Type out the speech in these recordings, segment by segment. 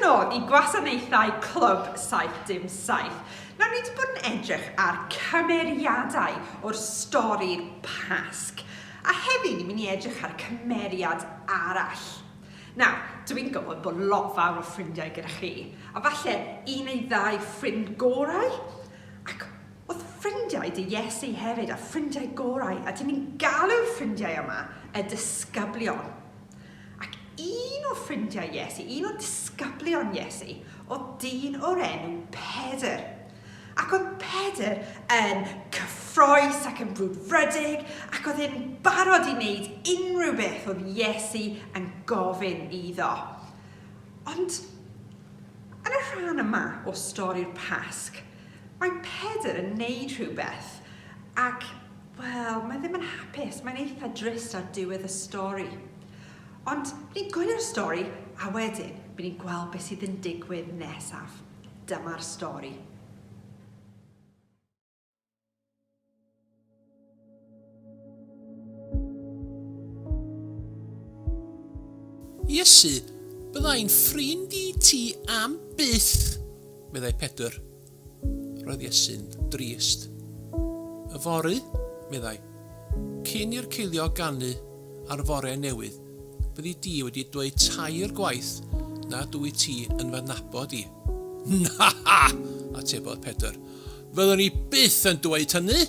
nôl i gwasanaethau Clwb 777. Nawr, ni wedi bod yn edrych ar cymeriadau o'r stori'r Pasg. A heddi, ni'n mynd i edrych ar cymeriad arall. Nawr, dw i'n gwybod bod lot fawr o ffrindiau gyda chi, a falle un neu ddau ffrind gorau? Ac oedd ffrindiau dy Iesu hefyd, a ffrindiau gorau, a dyn ni'n galw'r ffrindiau yma y disgyblion. Ac un o ffrindiau Iesu, un o disgyblion Iesu, oedd dyn o'r enw Pedr. Ac oedd Pedr yn cyffroes ac yn brwdfrydig, ac oedd e'n barod i wneud unrhyw beth oedd Iesu yn gofyn iddo. Ond yn y rhan yma o stori'r Pasg, mae Pedr yn wneud rhywbeth, ac, wel, mae ddim yn hapus, mae'n eitha drist ar diwedd y stori. Ond ni'n gwylio'r stori, a wedyn, bydd ni'n gweld beth sydd yn digwydd nesaf. Dyma'r stori. Iesu, bydda i'n ffrind i ti am byth! meddai Pedr. Roedd Iesu'n drist. Yfory, meddai, cyn i'r ceiliog ganu ar fore newydd, Byddi di wedi dweud tair gwaith nad wyt ti yn fy nabod i. Na! atebodd Pedr. Fyddwn i byth yn dweud hynny!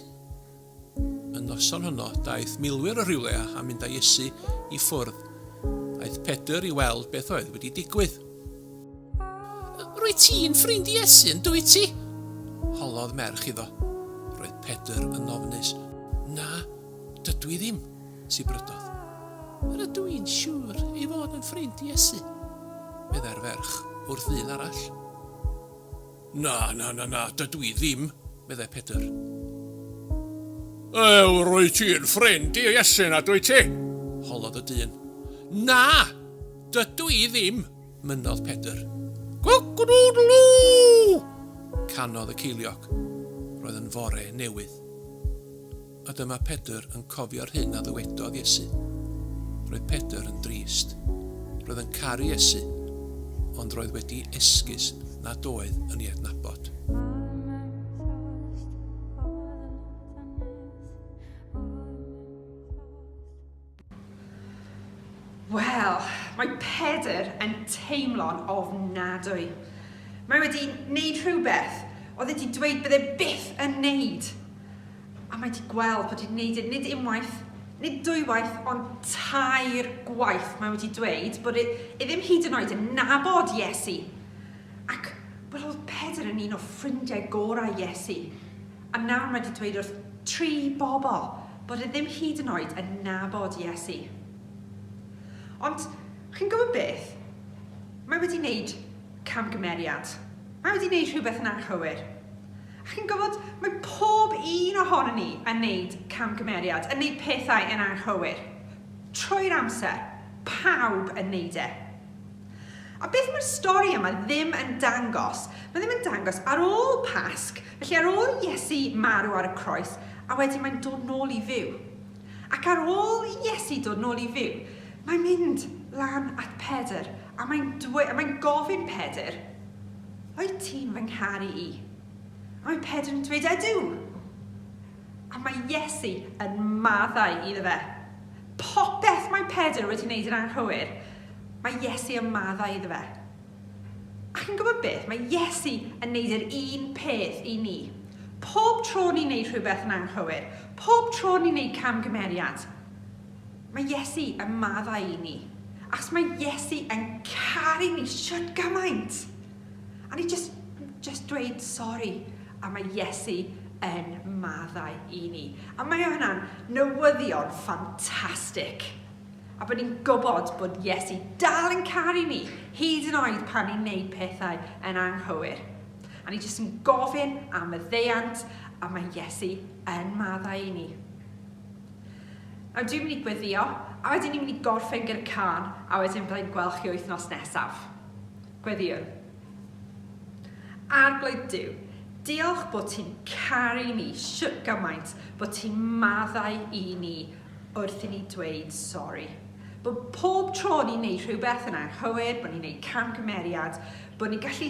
Y noson honno, daeth milwyr o rywle a mynd â Iesu i ffwrdd. Aeth Pedr i weld beth oedd wedi digwydd. Rwyt ti'n ffrind Iesu, yn dwyt ti? holodd merch iddo. Roedd Pedr yn ofnus. Na, dydw i ddim. sibrydodd. Yr ydw i'n siŵr ei fod yn ffrind Iesu, meddai'r ferch wrth ddyn arall. Na, na, na, na, dydw i ddim, meddai Pedr. Ew, rwy ti'n ffrind i Iesu na dwy ti? holodd y dyn. Na, dydw i ddim, mynnodd Pedr. Cock-a-doodle-doo! canodd y ceiliog. Roedd yn fore newydd. A dyma Pedr yn cofio'r hyn a ddywedodd Iesu. Roedd Pedr yn drist. Roedd yn caru Iesu, ond roedd wedi esgus nad oedd yn ei adnabod. Wel, mae Pedr yn teimlo'n ofnadwy. Mae wedi wneud rhywbeth oedd wedi dweud bydde byth yn wneud. A mae wedi gweld bod wedi wneud e nid unwaith, nid dwywaith, ond tair gwaith. Mae wedi dweud bod e, e ddim hyd yn oed yn nabod Iesu. Ac, wel, oedd Pedr yn un o ffrindiau gorau Iesu. A nawr mae 'di dweud wrth tri bobl bod e ddim hyd yn oed yn nabod Iesu. Ond, chi'n gwybod beth? Mae wedi wneud camgymeriad. Mae wedi wneud rhywbeth yn anghywir. A chi'n gwybod, mae pob un ohono ni yn wneud camgymeriad, yn wneud pethau yn anghywir. Trwy'r amser, pawb yn wneud e. A beth mae'r stori yma ddim yn dangos? Mae ddim yn dangos ar ôl Pasg, felly ar ôl i Iesu marw ar y croes, a wedyn mae'n dod nôl i fyw. Ac ar ôl i Iesu dod nôl i fyw, mae'n mynd lan at Pedr, a mae'n dwe, a mae'n gofyn Pedr, Wyt ti'n fy ngharu i? A mae Pedr yn dweud, Ydw! A mae Iesu yn maddau iddo fe. Popeth mae Pedr wedi wneud yn anghywir, mae Iesu yn maddau iddo fe. A chi'n gwybod beth? Mae Iesu yn wneud yr un peth i ni. Pob tro ni'n wneud rhywbeth yn anghywir, pob tro ni'n wneud camgymeriad, mae Iesu yn maddau i ni. Achos mae Iesu yn caru ni siwt gymaint. A ni jyst, jyst dweud sori a mae Iesu yn maddau i ni. A mae hwnna'n newyddion ffantastig. A bod ni'n gwybod bod Iesu dal yn caru ni, hyd yn oed pan ni'n neud pethau yn anghywir. A ni jyst yn gofyn am y ddeiant a mae Iesu yn maddau i ni. Nawr dwi'n mynd i gweddio, a wedyn ni'n mynd i gorffen gyda can, a wedyn byddai'n gweld chi wythnos nesaf. Gweddïwn. Arglwydd Duw, diolch bod ti'n caru ni shwt gymaint bod ti'n maddau i ni wrth i ni dweud sori. Bod pob tro ni'n neud rhywbeth yn anghywir, bod ni'n neud camgymeriad, bod ni'n gallu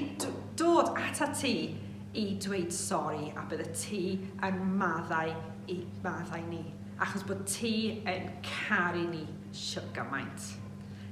dod atat ti i dweud sori a byddet ti yn maddau i maddau ni, achos bod ti yn caru ni shwt gymaint.